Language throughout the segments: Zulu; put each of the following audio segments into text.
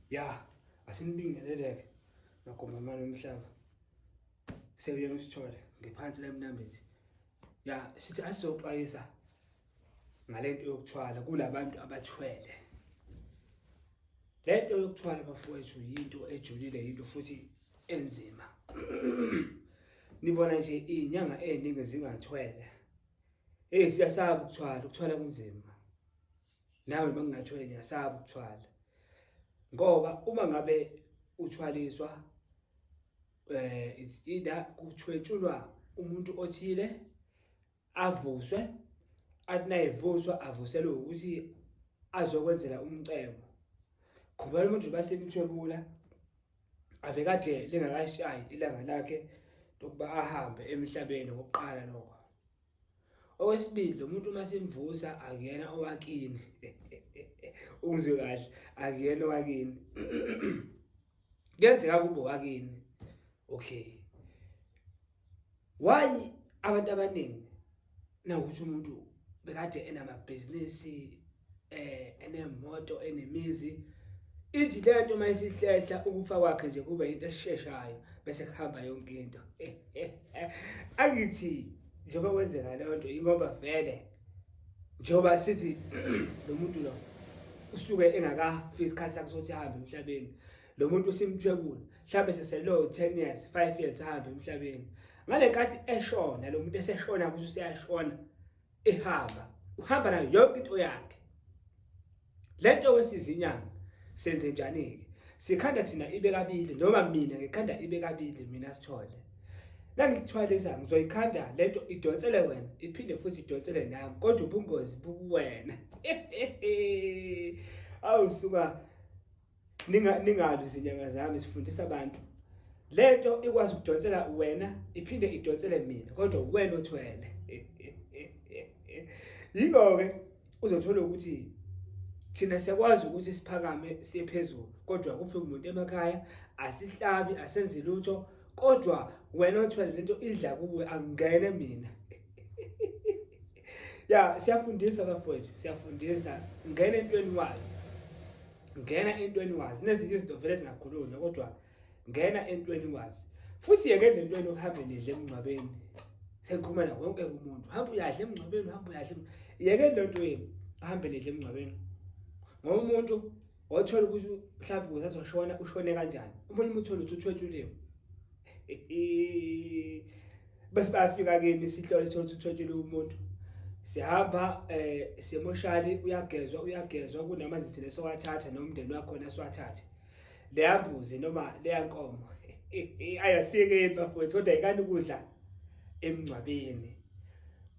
ya asinibingeleleke nagomamane umhlaba sebuyena usithole ngephansi lemnambithi ya sithi asizoxwayisa ngale nto yokuthwala kulabantu abathwele le nto yokuthwala bafowethu yinto ejulile yinto futhi enzima nibona nje iy'nyanga ey'ningi zingathwele eyi siyasaba ukuthwala ukuthwala kunzima nawe uma ngingathwele ngiyasaba ukuthwala ngoba uma ngabe uthwaliswa eh it's either kuthwetshulwa umuntu othile avuswe atinayivuswa avuselwe ukuthi azokwenzela umcebo khumela umuntu basemthwebula ave kade lingakashayi ilanga lakhe lokuba ahambe emhlabeni ngokuqala lokho Okwesibili lo muntu uma simvusa akuyena owakini. Ungizwe kahle, akuyena owakini. Kuyenzeka kube owakini. Okay. Why abantu abaningi nawukuthi umuntu bekade enamabhizinisi eh enemoto enemizi ithi le nto uma isihlehla ukufa kwakhe nje kube into esheshayo bese kuhamba yonke into angithi njengoba kwenzeka leyo nto ingoba vele njengoba sithi lo muntu lo usuke engakafiki isikhathi sakhe sokuthi ahambe emhlabeni lo muntu usimthwebula mhlawumbe seselo 10 years 5 years ahambe emhlabeni ngale nkathi eshona lo muntu eseshona ukuthi useyashona ehamba uhamba nayo yonke into yakhe lento wesizinyanga senze njani ke sikhanda thina ibe kabili noma mina ngikhanda ibe kabili mina sithole la ngikuthwalisa ngizoyikhanda lento idonsele wena iphinde futhi idonsele nami kodwa ubungozi bukuwena awu suka ninga ningabi izinyanga zami sifundisa abantu lento ikwazi ukudonsela wena iphinde idonsele mina kodwa wena othwele yingoke uzothola ukuthi thina siyakwazi ukuthi siphakame siye phezulu kodwa kufike umuntu emakhaya asihlabi asenzi lutho kodwa wena othwele lento idla kuwe angene mina ya siyafundisa bafowethu siyafundisa ngena entweni wazi ngena entweni wazi nezinye izinto vele zingakhulunywa kodwa ngena entweni wazi futhi yeke le ntweni okuhambe nidle emngcwabeni sengikhumela wonke umuntu hamba uyadla emngcwabeni hamba uyadla yeke le ntweni ahambe nidle emngcwabeni ngoba umuntu othola ukuthi mhlawumbe usazoshona ushone kanjani umuntu umuthola ukuthi uthwetshuliwe bese bayafika kimi sihlole thola ukuthi uthwetshuliwe umuntu sihamba eh semoshali uyagezwa uyagezwa kunamazithi lesowathatha nomndeni wakho naswathathe leyambuzi noma leyankomo ayasike bafowethu kodwa ikani ukudla emngcwabeni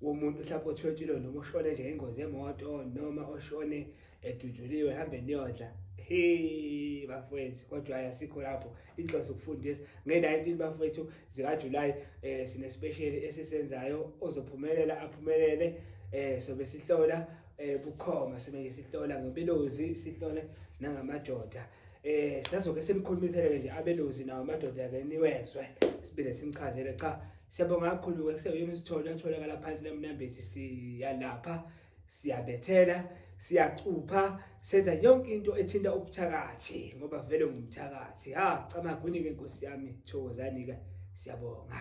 womuntu mhlawumbe othwetshile noma oshone nje ingozi yemoto noma oshone edujuliwe hambe niyodla hey bafowethu kodwa hayi asikho lapho inhloso ukufundisa nge-19 bafowethu zikajulayi um eh, sinespesheli esisenzayo ozophumelela aphumelele um sobe sihlola um bukhoma sobe nje sihlola ngebelozi sihlole nangamadoda eh sazoke simkhulumisele nje abelozi nawo amadoda ke niwezwe sibile simchazele cha siyabonga kakhulu ke kuseyona isithole atholakala phansi lemnambezi siyalapha siyabethela siyacupha senza yonke into ethinta ubuthakathi ngoba vele ngumthakathi ha camagwini ke nkosi yami thokozani ke siyabonga